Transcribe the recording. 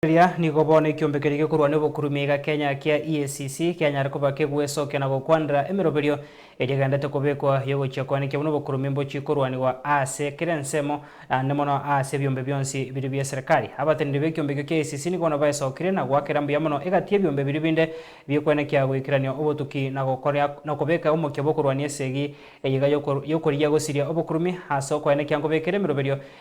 Eria nigo bono ekiombe keria gekorwa n'obokurumia iga Kenya kia EACC kianyare koba kegwesokia na gokwanera emeroberio eria egenderete kobekwa y'ogochia koenekia buna obokurumia mbochie korwanigwa ase kera ensemo, naende mono ase ebiombe bionsi biria bi'eserikari. Abateneneri b'ekiombe ekio kia EACC nigo bono baesokirie na goakera mbuya mono egati y'ebiombe biria binde bi'okoenekia goikerania obotuki na gokoria na kobeka omokia bw'okorwania esegi eye iga y'okorigia gosiria obokurumia ase okoenekia nkobekera emeroberio